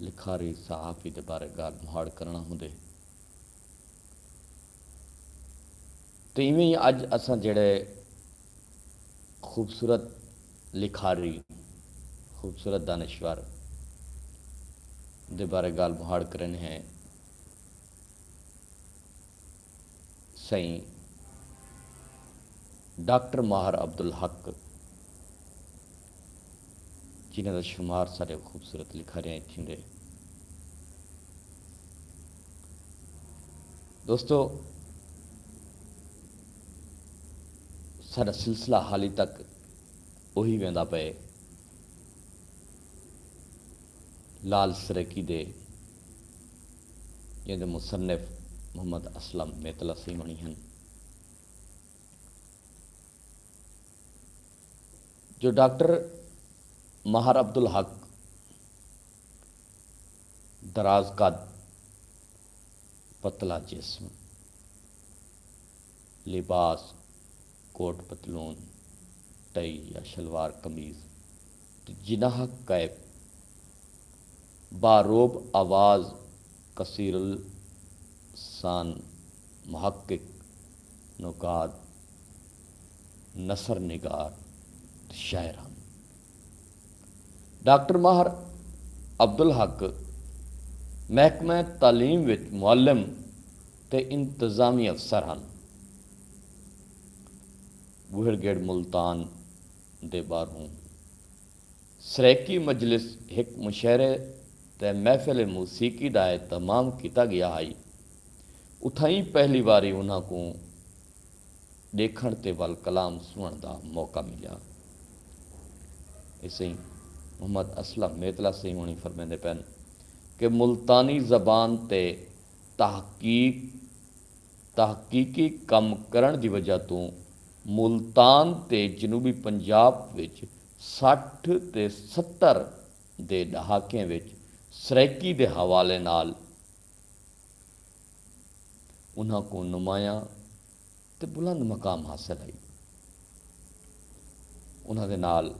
لکھاری صحافی دے بارے ڳالھ مہاڑ کرݨا ہوندے تے ایویں ای اڄ اساں جیڑھے خوبصورت لکھاری، خوبصورت دانشور دے بارے ڳالھ مہاڑ کریندے ہیں، سئیں ڈاکٹر ماہر عبدالحق جنہاں دا شمار ساݙے خوبصورت لکھاریاں اچ تھیندے۔ دوستو ساݙا سلسلہ حالی تک اوہی ویندا پئے لعل سرائیکی دے جیں دے مصنف محمد اسلم میتلا سیوݨی ہن جو ڈاکٹر مہر عبدالحق دراز قد، پتلا جسم، لباس کوٹ پتلون، ٹئی یا شلوار قمیض تے جناح کیپ باروب آواز کثیر السان محقق نقاد نثر نگار تے شاعر ہن۔ ڈاکٹر ماہر عبدالحق محکمہ تعلیم وچ معلم تے انتظامی افسر ہن۔ ٻوہڑ گڑھ ملتان۔ دے ٻاہروں سرائیکی مجلس ہک مشاعرے تے محفل موسیقی دا اہتمام کیتا ڳیا ہئی۔ اتھائیں پہلی واری انہاں کوں ݙیکھݨ تے ول کلام سݨݨ دا موقع ملیا۔ سئیں محمد اسلم میتلا سئیں ہوݨیں فرمیندے پئن کہ ملتانی زبان تے تحقیق تحقیقی کم کرݨ دی وجہ توں ملتان تے جنوبی پنجاب وچ سٹھ تے ستر دے ݙہاکیں وچ سرائیکی دے حوالے نال انہاں کوں نمایاں تے بلند مقام حاصل ہئی۔ انہاں دے نال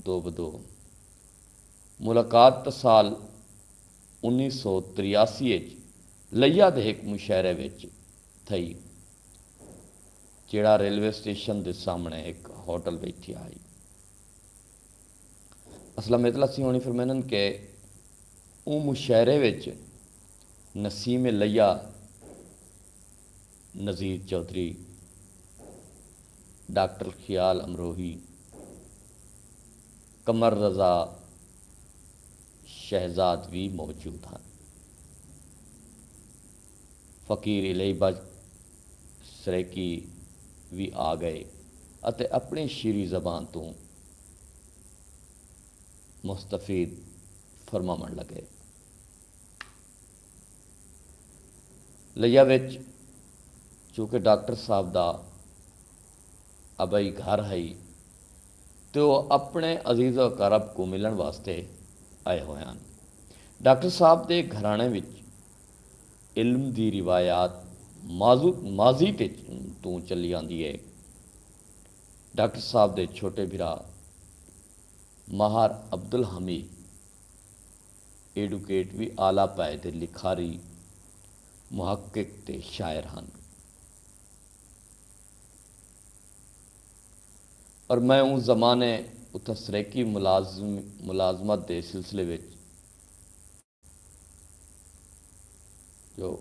دو بدو ملاقات تاں سال انیس سو تریاسی اچ لیا دے ہک مشاعرے وچ تھئی جیڑھا ریلوے اسٹیشن دے سامنڑے ہک ہوٹل وچ تھیا ہئی۔ اسلم میتلا سیوہݨی فرمیندن کہ اوں مشاعرے وچ نسیم لیا نذیر چوہدری، ڈاکٹر خیال امروہی، قمر رضا شہزاد وی موجود ہن۔ فقیر الیہی بچ سرائیکی وی آ گئے اتے اپݨی شیریں زبان توں مستفید فرماوݨ لڳئے۔ لیہ وچ چونکہ ڈاکٹر صاحب دا۔ ابئی گھر ہئی تے او اپنڑے عزیز و اقارب کوں ملنڑ واسطے آئے ہوئے ہن۔ ڈاکٹر صاحب دے گھرانڑے وچ علم دی روایات ماضی تے توں چلی آندی اے۔ ڈاکٹر صاحب دے چھوٹے بھرا ماہر عبدالحمید ایڈوکیٹ وی اعلی پائے دے لکھاری، محقق تے شاعر ہن۔ پر میں اوں زمانے اتھاں سرائیکی ملازمت دے سلسلے وچ جو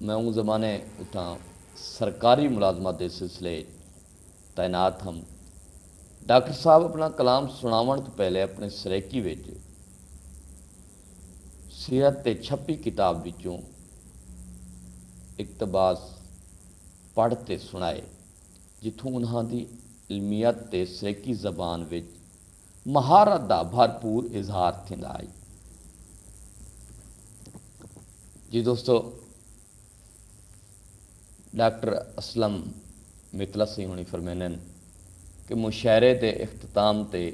میں اوں زمانے اتھاں سرکاری ملازمت دے سلسلے وچ تعینات ہم۔ ڈاکٹر صاحب اپنا کلام سݨاوݨ توں پہلے اپݨے سرائیکی وچ۔ سیرت تے چھپی کتاب وچوں اقتباس پڑھ تے سݨائے جتھوں انہاں دی علمیت تے سرائیکی زبان وچ مہارت دا بھرپور اظہار تھیندا ہئی۔ جی دوستو! ڈاکٹر اسلم مطلسی ہوݨی فرمیندن کہ مشاعرے دے اختتام تے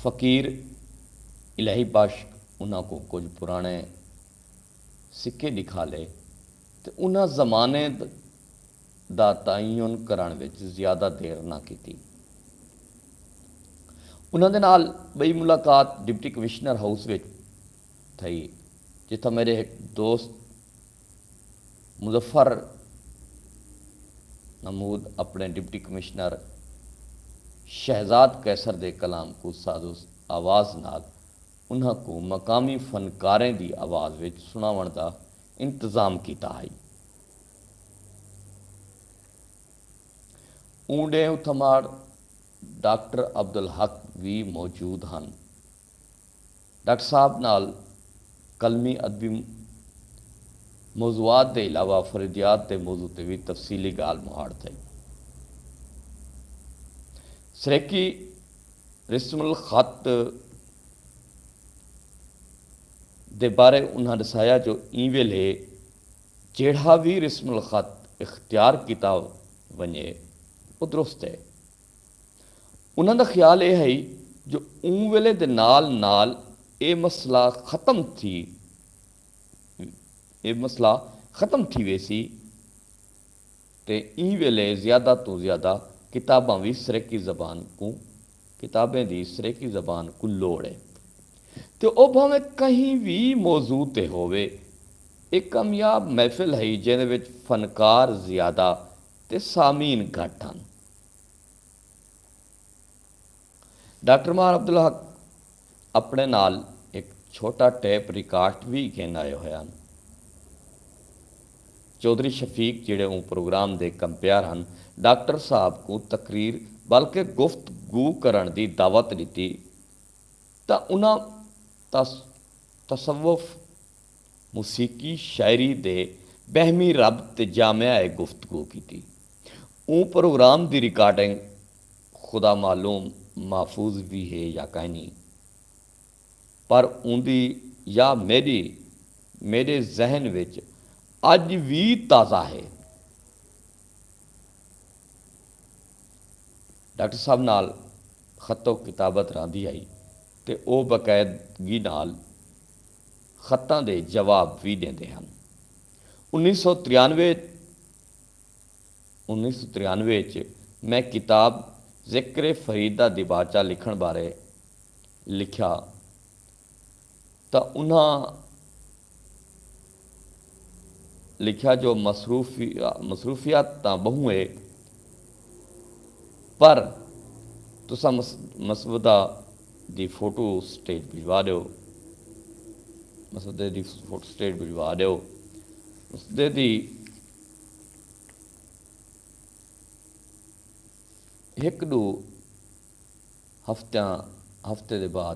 فقیر الہی بخش انہاں کوں کجھ پراݨے سکے ݙکھالے تے انہاں زمانے دا تعین کرݨ وچ زیادہ دیر نہ کیتی۔ انہاں دے نال ٻئی ملاقات ڈپٹی کمشنر ہاؤس وچ تھئی جتھاں میݙے ہک دوست مظفر نمود اپݨے ڈپٹی کمشنر شہزاد قیصر دے کلام کوں ساز و آواز نال انہاں کوں مقامی فنکاریں دی آواز وچ سݨاوݨ دا انتظام کیتا ہئی۔ اوں ݙینہ اتھماڑ ڈاکٹر عبدالحق وی موجود ہن۔ ڈاکٹر صاحب نال قلمی ادبی موضوعات دے علاوہ فریدیات دے موضوع تے وی تفصیلی گالھ مہاڑ تھئی۔ سرائیکی رسم الخط دے بارے انہاں ڈسایا جو ایں ویلھے جیڑھا وی رسم الخط اختیار کیتا ونجے او درست ہے۔ انہاں دا خیال اے ہئی جو اوں ویلے دے نال نال اے مسئلہ ختم تھی اے مسئلہ ختم تھی ویسی تے ایں ویلے زیادہ توں زیادہ کتاباں وی سرائیکی زبان کوں کتابیں دی سرائیکی زبان کوں لوڑ اے تے او بھانویں کہیں وی موضوع تے ہووے۔ اے کامیاب محفل ہئی جیندے وچ فنکار زیادہ تے سامعین گھٹ ہن۔ ڈاکٹر ماہر عبدالحق اپنڑے نال ہک چھوٹا ٹیپ ریکارٹ وی گھن آئے ہوئے ہن۔ چوہدری شفیق جیہڑے اوں پروگرام دے کمپیئر ہن ڈاکٹر صاحب کوں تقریر بلکہ گفت گو کرنڑ دی دعوت ڈتی تاں انہاں تصوف، موسیقی شاعری دے بہمی رب تے جامعہ اے گفتگو کیتی۔ اوں پروگرام دی ریکارڈنگ خدا معلوم محفوظ وی ہے یا کائنی پر اوندی یا میڈی میڈے ذہن وچ اج وی تازہ ہے۔ ڈاکٹر صاحب نال خط و کتابت راندی ہئی تے او باقاعدگی نال خطاں دے جواب وی ݙیندے ہن۔ انیس سو تریانوے انیس سو تریانوے اچ میں کتاب ذکر فرید دا دیباچہ لکھݨ بارے لکھیا تاں انہاں لکھیا جو مصروفیات تاں ٻہوں اے پر تساں مسودہ دی فوٹو سٹیٹ بھجوا ڈیو۔ مسودے دی فوٹو سٹیٹ بھجوا ڈیو۔ مسودے دی ہک ڈو ہفتیاں ہفتے دے بعد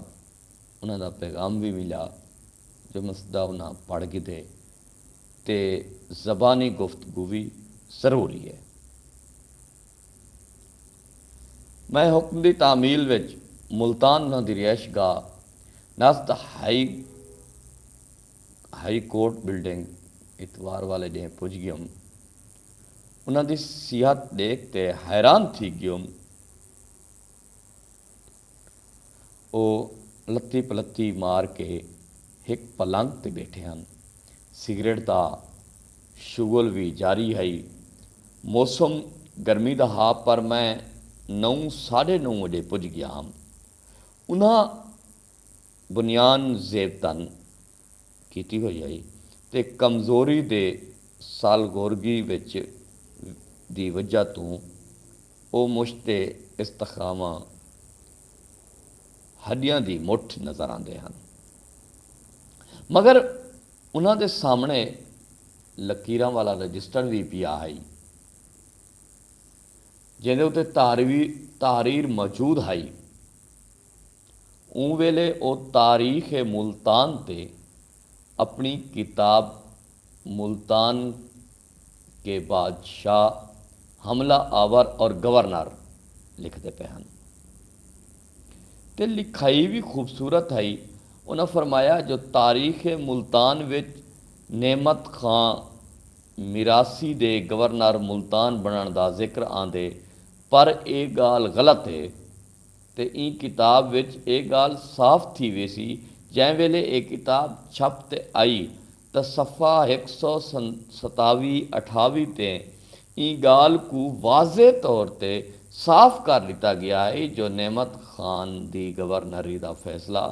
انہاں دا پیغام وی ملیا جو مسودہ انہاں پڑھ گھدے تے زبانی گفتگو وی ضروری اے۔ میں حکم دی تعمیل وچ ملتان انہاں دی رہائش گاہ نست ہائی ہائی کورٹ بلڈنگ اتوار والے ڈینہہ پج گیوم۔ انہاں دی صحت ڈیکھ تے حیران تھی گیوم۔ او لتی پلتی مار کے ہک پلنگ تے ٻیٹھے ہن۔ سگریٹ دا شغل وی جاری ہئی۔ موسم گرمی دا ہا پر میں نو ساݙے نو وڄے پڄ ڳیا ہم۔ انہاں بنیان زیب تن کیتی ہوئی ہئی تے کمزوری دے سالگورگی وچ دی وجہ توں۔ او مشت تے استخواواں ہڈیاں دی مٹھ نظر آندے ہن مگر انہاں دے سامنڑے لکیراں والا رجسٹر وی پیا ہئی جیندے اتے تحریر موجود ہئی۔ اوں ویلے او تاریخ ملتان تے اپݨی کتاب ملتان کے بادشاہ حملہ آور اور گورنر لکھدے پئے ہن تے لکھائی وی خوبصورت ہئی۔ انہاں فرمایا جو تاریخ ملتان وچ نعمت خاں میراثی دے گورنر ملتان بݨݨ دا ذکر آندے پر ایہ ڳالھ غلط ہے۔ تے ایں کتاب وچ ایہ ڳالھ صاف تھی ویسی جیں ویلے ایہ کتاب چھپ تے آئی تاں صفحہ ہک سو ستاوی اٹھاوی تے ایں ڳالھ کوں واضح طور تے صاف کر ݙتا ڳیا ہئی جو نعمت خان دی گورنری دا فیصلہ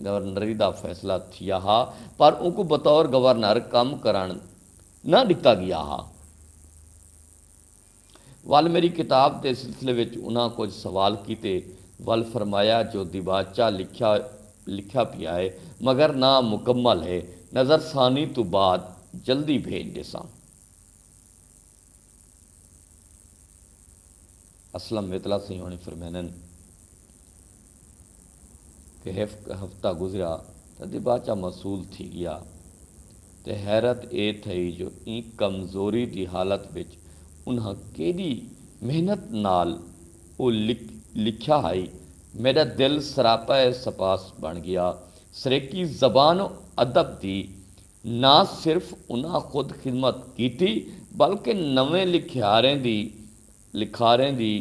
گورنری دا فیصلہ تھیا ہا پر اونکوں بطور گورنر کم کرݨ نہ ݙتا ڳیا ہا۔ ول میݙی کتاب دے سلسلے وچ انہاں کجھ سوال کیتے ول فرمایا جو دیباچہ لکھیا لکھیا پیا ہے مگر نا مکمل ہے نظر ثانی توں بعد جلدی بھیج ݙیساں۔ اسلم میتلا سئیں ہوݨیں فرمیندن۔ تے ہک ہفتہ گزریا تاں دیباچہ مسول تھی ڳیا تے حیرت اے تھئی جو ایں کمزوری دی حالت وچ انہاں کیݙی محنت نال او لکھیا ہئی میݙا دل سراپا اے سپاس بݨ ڳیا سریکی زبان و ادب دی نہ صرف انہاں خود خدمت کیتی بلکہ نویں لکھیاریں دی لکھاریں دی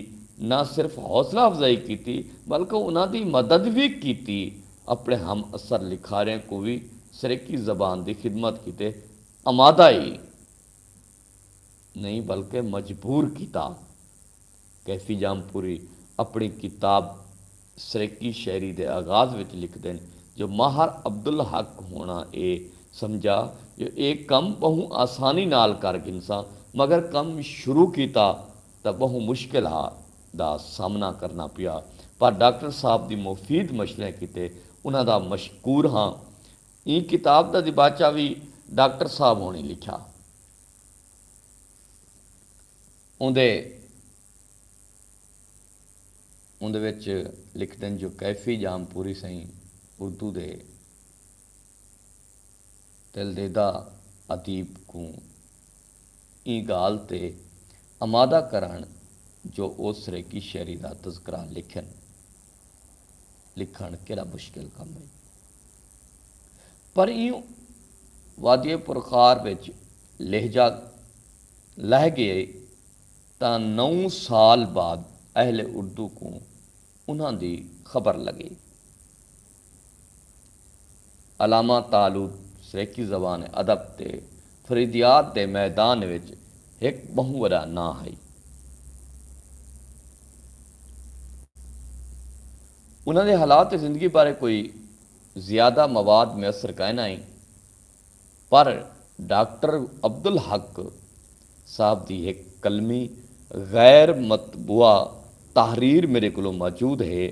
نہ صرف حوصلہ افزائی کیتی بلکہ انہاں دی مدد وی کیتی اپنڑے ہم عصر لکھاریں کوں وی سرائیکی زبان دی خدمت کیتے آمادہ ای نئیں بلکہ مجبور کیتا کیفی جام پوری اپنڑی کتاب سرائیکی شاعری دے آغاز وچ لکھدن جو ماہر عبدالحق ہوݨاں اے سمجھا جو اے کم ٻہوں آسانی نال کر گھنساں مگر کم شروع کیتا تاں ٻہوں مشکل ہا دا سامنا کرݨاں پیا پر ڈاکٹر صاحب دی مفید مشوریں کیتے انہاں دا مشکور ہاں ایں کتاب دا دیباچہ وی ڈاکٹر صاحب ہوݨیں لکھیا اوندے اوندے وچ لکھدن جو کیفی جام پوری سئیں اردو دے دلدیدہ ادیب کوں ایں گالھ تے امادہ کرن جو او سریکی شعری دا تذکرہ لکھن۔ لکھن کیڈا مشکل کم ہئی۔ پر ایں وادی پرخار وچ لہجہ لہہ گئے۔ تاں نو سال بعد اہل اردو کوں انہاں دی خبر لگی۔ علامہ طالوت سرائیکی زبان ادب تے فریدیات دے میدان وچ ہک ٻہوں وݙا ناں ہئی۔ انہاں دے حالات زندگی بارے کوئی زیادہ مواد میسر کائناں ہئی۔ پر ڈاکٹر عبدالحق صاحب دی ہک قلمی غیر مطبوعہ تحریر میڈے کولوں موجود ہے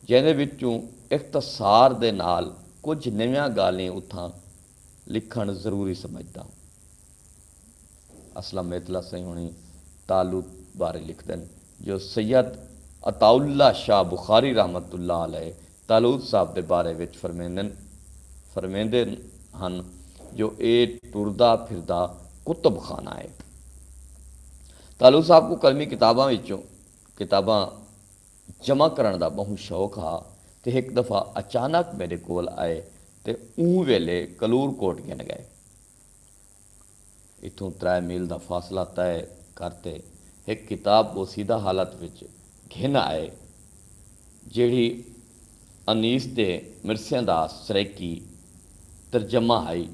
جیندے وچوں اختصار دے نال کجھ نویاں گالھیں اتھاں لکھݨ ضروری سمجھداں۔ اسلم میتلا سئیں ہوݨی تالوت بارے لکھدن جو سید عطاء اللہ شاہ بخاری رحمۃ اللہ علیہ تالوت صاحب دے بارے وچ فرمیندن فرمیندے ہن جو اے ٹردا پھردا کتب خانہ ہے۔ تالوت صاحب کوں قلمی کتاباں وچوں کتاباں جمع کرݨ دا ٻہوں شوق ہا تے ہک دفعہ اچانک میݙے کول آئے تے اوں ویلے کلور کوٹ گھن ڳئے۔ اتھوں ترائے میل دا فاصلہ طے کر تے ہک کتاب بوسیدہ حالت وچ گھن آئے جیڑھی انیس دے مرثیاں دا سرائیکی ترجمہ ہئی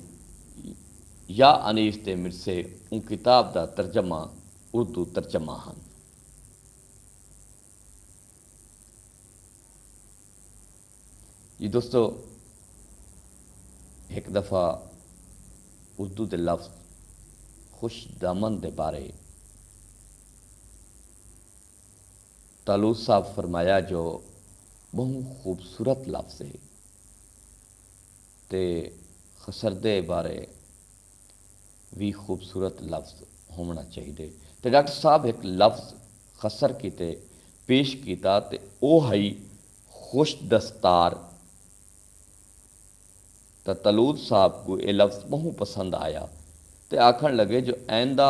یا انیس دے مرثے اوں کتاب دا ترجمہ اردو ترجمہ ہن۔ جی دوستو ہک دفعہ اردو دے لفظ خوش دامن دے بارے طالوس صاحب فرمایا جو بہوں خوبصورت لفظ ہے تے خسردے بارے وی خوبصورت لفظ ہوونا چاہیدے تے ڈاکٹر صاحب ہک لفظ خسر کیتے پیش کیتا تے او ہئی خوش دستار تاں طلوت صاحب کوں ایہ لفظ ٻہوں پسند آیا تے آکھݨ لڳے جو آئندہ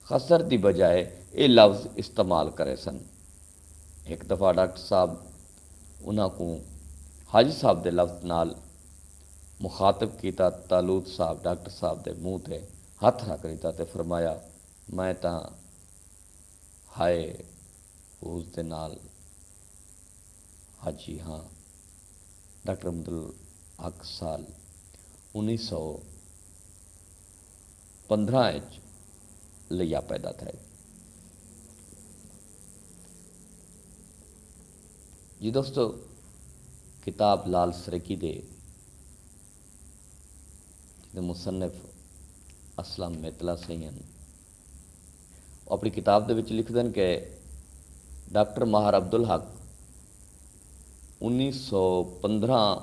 خسر دی بجائے ایہ لفظ استعمال کریسن۔ ہک دفعہ ڈاکٹر صاحب انہاں کوں حاجی صاحب دے لفظ نال مخاطب کیتا تاں طلوت صاحب ڈاکٹر صاحب دے منہ تے ہتھ رکھ ݙتا تے فرمایا میں تاں ہائے حوض دے نال حاجی ہاں۔ ڈاکٹر عبدالحق سال انیس سو پندرہ اچ لیا پیدا تھئے۔ جی دوستو کتاب لال سریکی دے جیندے مصنف اسلم میتلا سئیں ہن۔ او اپݨی کتاب دے وچ لکھدن کہ ڈاکٹر ماہر عبدالحق انیس سو پندرھاں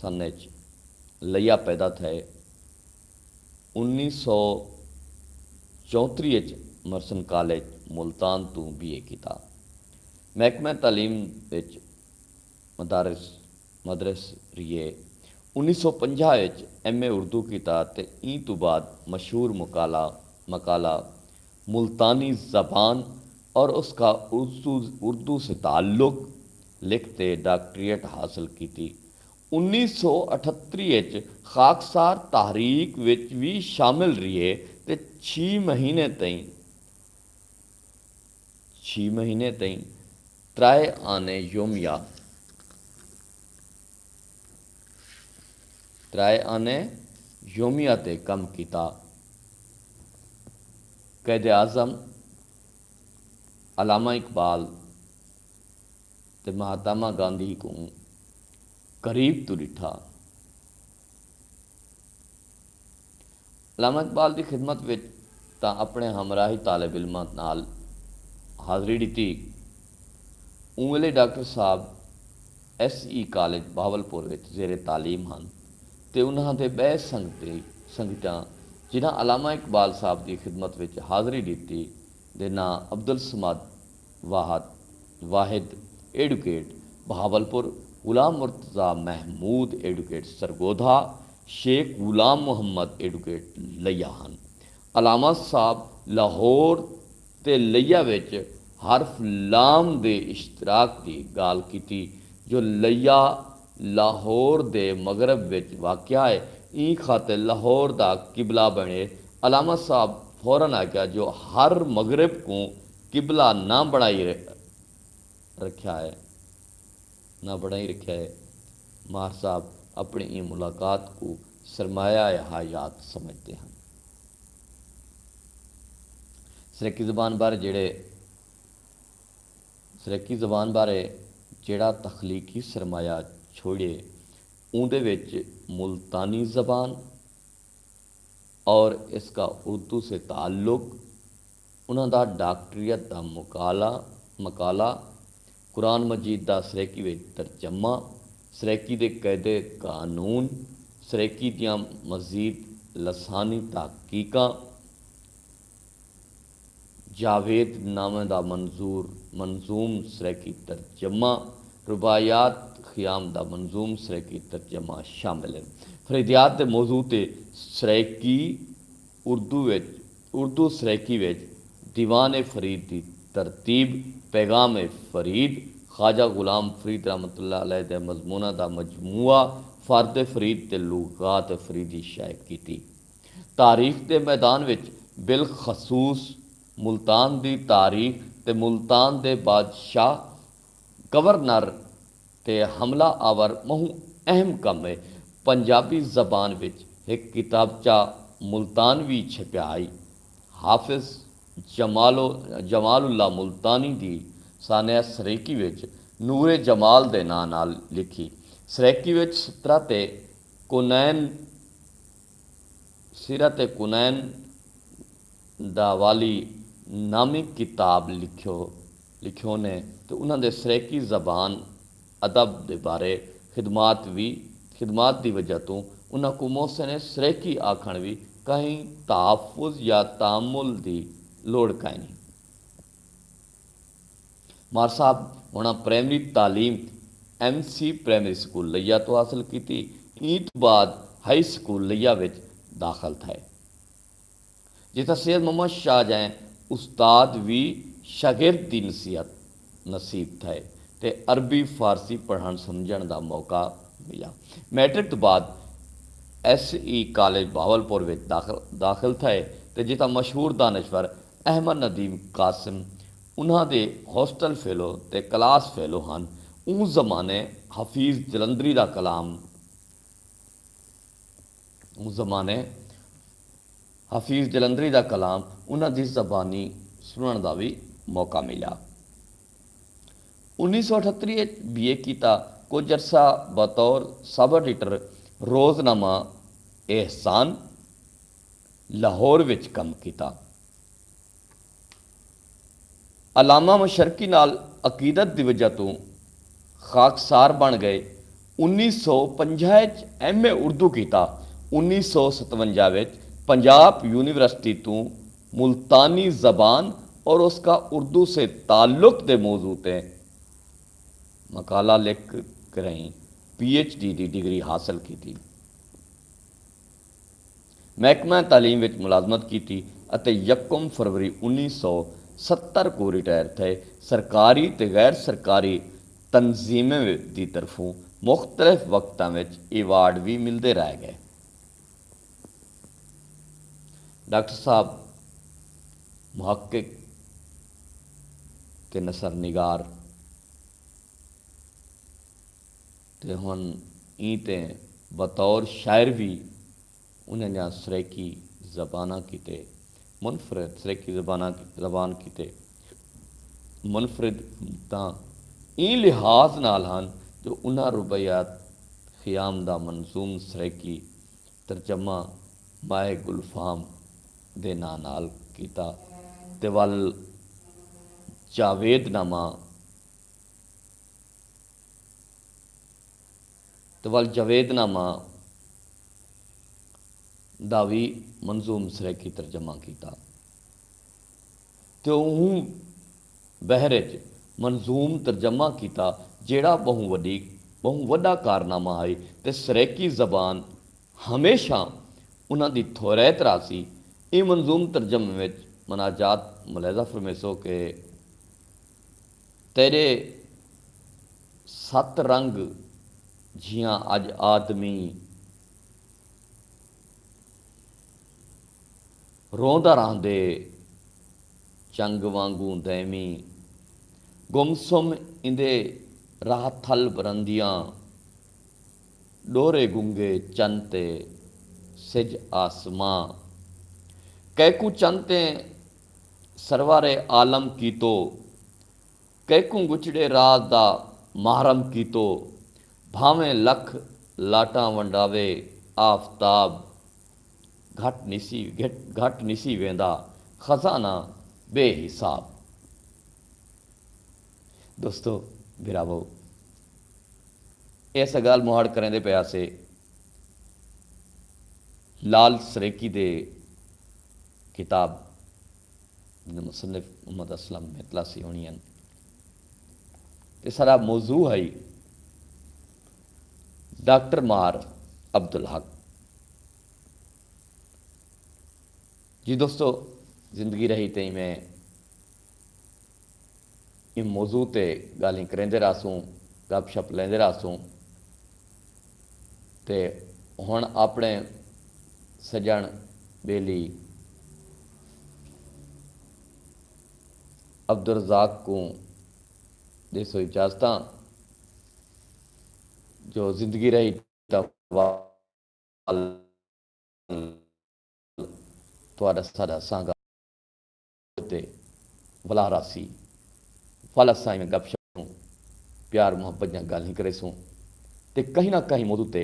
سن اچ لیا پیدا تھئے انیس سو چونتریھ اچ مرسن کالج ملتان توں بی اے کیتا۔ محکمہ تعلیم اچ مدارس، مدرس، ریے۔ انیس سو پنجاہ اچ ایم اے اردو کیتا تے ایں توں بعد مشہور مقالہ، مقالہ، ملتانی زبان اور اس کا اردو سے تعلق لکھ تے ڈاکٹریٹ حاصل کیتی۔ انیس سو اٹھتری اچ خاکسار تحریک وچ وی شامل ریے تے چھی مہینے تئیں، چھی مہینے تئیں ترائے آنے یومیہ ترائے آنے یومیہ تے کم کیتا۔ قائداعظم علامہ اقبال تے مہاتما گاندھی کوں قریب توں ݙٹھا۔ علامہ اقبال دی خدمت وچ تاں اپݨے ہمراہی طالب علماں نال حاضری ݙتی۔ اوں ویلے ڈاکٹر صاحب ایس ای کالج بہاولپور وچ زیر تعلیم ہن تے انہاں دے ٻئے سنگتی، سنگتیاں جنہاں علامہ اقبال صاحب دی خدمت وچ حاضری ݙتی دے ناں Abdussamad, Wahid, Wahid advocate Bahawalpur, Ghulam Murtaza Mahmood advocate Sargodha, Sheikh Ghulam Muhammad advocate Layyah ہن۔ علامہ صاحب لاہور تے لیا وچ حرف لام دے اشتراک دی گالھ کیتی جو لیا لاہور دے مغرب وچ واقع ہے ایں خاطر لاہور دا قبلہ بݨے۔ علامہ صاحب فورا آکھیا جو ہر مغرب کوں قبلہ نہ بݨائی رکھیا ہے نہ بݨائی رکھیا ہے ماہر صاحب اپݨی ایں ملاقات کوں سرمایہ حیات سمجھدے ہن سرائیکی زبان بارے جیڑھے سرائیکی زبان بارے جیڑھا تخلیقی سرمایہ چھوڑیے اوندے وچ ملتانی زبان اور اس کا اردو سے تعلق انہاں دا ڈاکٹریت دا مقالہ، قرآن مجید دا سرائیکی وچ ترجمہ، سرائیکی دے قید قانون، سرائیکی دیاں مزید لسانی تحقیقاں، جاوید نامہ دا منظور منظوم سرائیکی ترجمہ، رباعیات خیام دا منظوم سرائیکی ترجمہ شامل ہن۔ فریدیات دے موضوع تے سرائیکی۔ اردو وچ اردو سرائیکی وچ دیوان فرید دی ترتیب پیغام فرید خواجہ غلام فرید رحمت اللہ علیہ دے مضموناں دا مجموعہ فرد فرید تے لغات فریدی شائع کیتی تاریخ دے میدان وچ بالخصوص ملتان دی تاریخ تے ملتان دے بادشاہ گورنر تے حملہ آور ٻہوں اہم کم اے۔ پنجابی زبان وچ ہک کتابچہ ملتان وی چھپیا ہئی۔ حافظ جمال جمال اللہ ملتانی دی سانحہ سرائیکی وچ نور جمال دے ناں نال لکھی۔ سرائیکی وچ سطرت کونین سیرت کونین داوالی نامی کتاب لکھیو۔ لکھیونے تے انہاں دے سرائیکی زبان ادب دے بارے خدمات وی خدمات دی وجہ توں انہاں کوں محسن سرائیکی آکھݨ وی کہیں تحفظ یا تامل دی لوڑھ کائنی۔ مار صاحب ہوݨاں پرائمری تعلیم M C primary school Layyah توں حاصل کیتی ایں توں بعد ہائی سکول لیا وچ داخل تھئے۔ جتھاں سید محمد شاہ جئیں استاد وی شاگرد دی نصیحت نصیب تھئے تے عربی فارسی پڑھݨ سمجھݨ دا موقع ملیا۔ میٹرک توں بعد ایس ای کالج بہاولپور وچ داخل تھئے تے جتھاں مشہور دانشور احمد ندیم قاسم انہاں دے ہاسٹل فیلو تے کلاس فیلو ہن اوں زمانے حفیظ جلندری دا کلام اوں زمانے حفیظ جلندری دا کلام انہاں دی زبانی سنڑݨ دا وی موقع ملیا۔ انیس سو اٹھتری اچ بی اے کیتا کجھ عرصہ بطور سب ایڈیٹر روز نامہ احسان لاہور وچ کم کیتا۔ علامہ مشرقی نال عقیدت دی وجہ توں خاکسار بݨ ڳئے۔ انیس سو پنجاہ اچ ایم اے اردو کیتا۔ انیس سو ستونجاہ وچ پنجاب یونیورسٹی توں ملتانی زبان اور اس کا اردو سے تعلق دے موضوع تے مقالہ لکھ کرئیں پی ایچ ڈی دی ڈگری حاصل کیتی۔ محکمہ تعلیم وچ ملازمت کیتی اتے یکم فروری انیس سو ستر کوں ریٹائر تھئے۔ سرکاری تے غیر سرکاری تنظیمیں دی طرفوں مختلف وقتاں وچ ایوارڈ وی ملدے رہ ڳئے۔ ڈاکٹر صاحب محقق تے نثر نگار۔ تے ہن ایں تے بطور شاعر وی انہاں دیاں سرائیکی زباناں کیتے منفرد سرائیکی زباناں زبان کیتے منفرد حکمتاں ایں لحاظ نال ہن جو انہاں رباعیات خیام دا منظوم سرائیکی ترجمہ مائے گل فام دے ناں نال کیتا تے ول جاوید نامہ تے ول جاوید نامہ دا وی منظوم سرائیکی ترجمہ کیتا تے اوں بحر اچ منظوم ترجمہ کیتا جیڑھا ٻہوں وݙی ٻہوں وݙا کارنامہ ہئی تے سرائیکی زبان ہمیشہ انہاں دی تھوریت رہسی ایں منظوم ترجمے وچ مناجات ملاحظہ فرمیسو کہ تیݙے ست رنگ جھیاں اڄ آدمی روندا رہندے چنگ وانگوں دائمی گم سم ایندے راہ تھل برندیاں ݙورے گنگے چن تے سجھ آسماں کیکوں چن تے سرور عالم کیتو کیکوں ڳچھڑے راز دا محرم کیتو بھانویں لکھ لاٹاں ونڈاوے آفتاب گھٹ نسی گھٹ نسی ویندا خزانہ بے حساب دوستو بھراوو ایس گالھ مہاڑ کریندے پئے ہاسے۔ لال سریکی دے کتاب دے مصنف محمد اسلم میتلاسی ہونی ہن۔ اس ہرا موضوع ہئی ڈاکٹر مار عبدالحق جی دوستو زندگی رہی تئیں میں ایں موضوع تے ڳالھیں کریندے رہسوں، گپ شپ لیندے رہسوں تے ہݨ آپݨے سڄݨ ٻیلی عبدالرزاق کوں ݙیسو اجازتاں جو زندگی رہی تاں وال تہاݙا ساݙا سانگا۔ تے ولا راسی ول اساں ایویں گپ شپ توں پیار محبت دیاں گالھیں کریسوں تے کہیں نہ کہیں موضوع تے